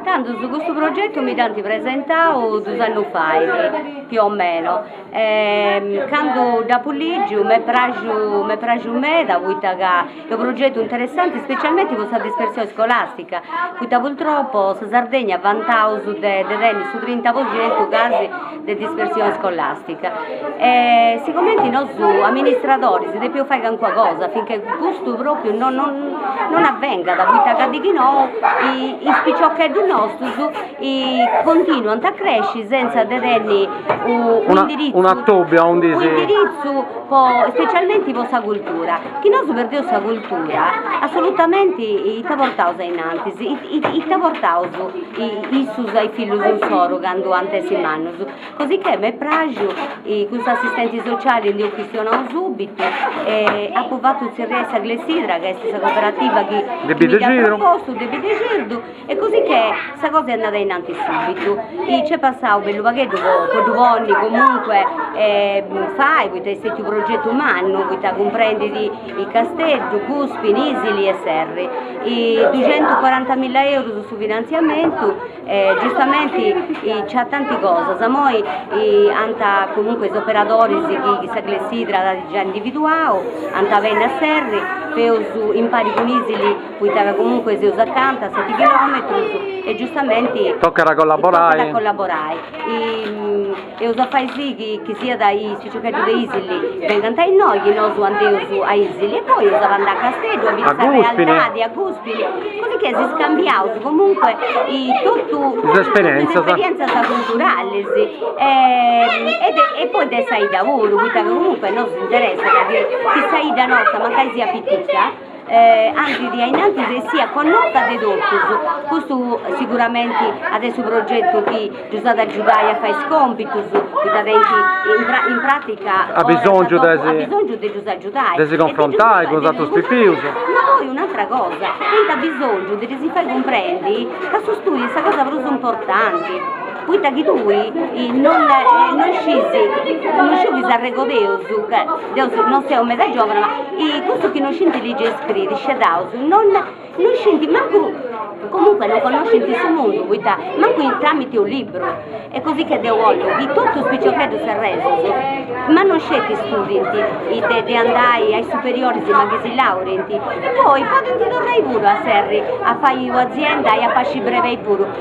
Candu su custu progetu mi dd'ant presentau dus annus fait, più o meno, candu dd'apu lìgiu m'est pràxiu, m'est pràxiu meda, poita ca Est unu progetu interessante specialmente po sa dispersione scolastica, poita purtroppo sa Sardegna vantaus de tenni su trinta po centu casi de dispersione scolastica. E sigumenti nosu amministradoris depius fai calincuna cosa affinché custu propriu non avvengat, poita ca dechinou is piciocheddus nostus continuant a cresci senza de tenni un'indiritzu specialmenti po sa cultura, chi nosu perdeus sa cultura assolutamenti ita portaus a innantis, ita portaus issus a is fillus insoru candu ant a essi mannus, cosicchè m'est praxiu cun s'assistenti sociali ndi eus chistionau subitu e apu fatu tzerriai sa clessidra ca est sa cooperativa chi mi dd'at propostu de Biddexidru E cosi che sa cosa est andada innantis subitu, i c'est passau bellu pagheddu po po ddu ponni comunque fai, poita est stetiu u progetu mannu, poita cumprendit Casteddu, Guspini, Isili e Serri. I duxentucuarantamilla eurus su finanziamentu e giustamenti c'at tanti cosas, moi ant comunque is operadoris chi chi sa clessidra at già individuau, ant a benni a Serri, eus impari cun Isili poita ca comunque seus acanta a seti chilòmetrus e giustamenti tocat a collaborai. Eus a fai si chi chi siat is piciocheddus de Isili bengant a innoi chi nosu andeus a Isili e poi eus a andai a Casteddu a biri sa realidadi, a Guspini, cosicchè si scambiaus comunque totu is esperiènzias culturalis e de e poi de sa 'idda puru, poita ca comunque nosu si interessat chi sa 'idda nosta mancai siat pitica andit a innantis e siat connota de totus. Custu siguramenti at a essi su progetu chi ddus at a agiudai a fai is còmpitus, poita tenint in pràtica a bisòngiu de ddus agiudai, de si cunfrontai cun is atrus pipius. Ma poi un'atra cosa, tenint a bisòngiu de ddis fai cumprendi ca su stùdiu est sa cosa prus importanti. Poita chi tui non sciis, non sciu chi s'arregodeus, ca deu non seu meda giòvana, ma cussus chi non scint ligi e scriri, scedaus, non scint mancu, comunque non connoscint su mundu, poita mancu tramite unu libru, e così che deu 'ollu chi totu is piciocheddus serresus, ma non sceti studint de andai a is superioris ma chi si laurint, poi potzant torrai puru a Serri a fai u' azienda e a pasci brebeis puru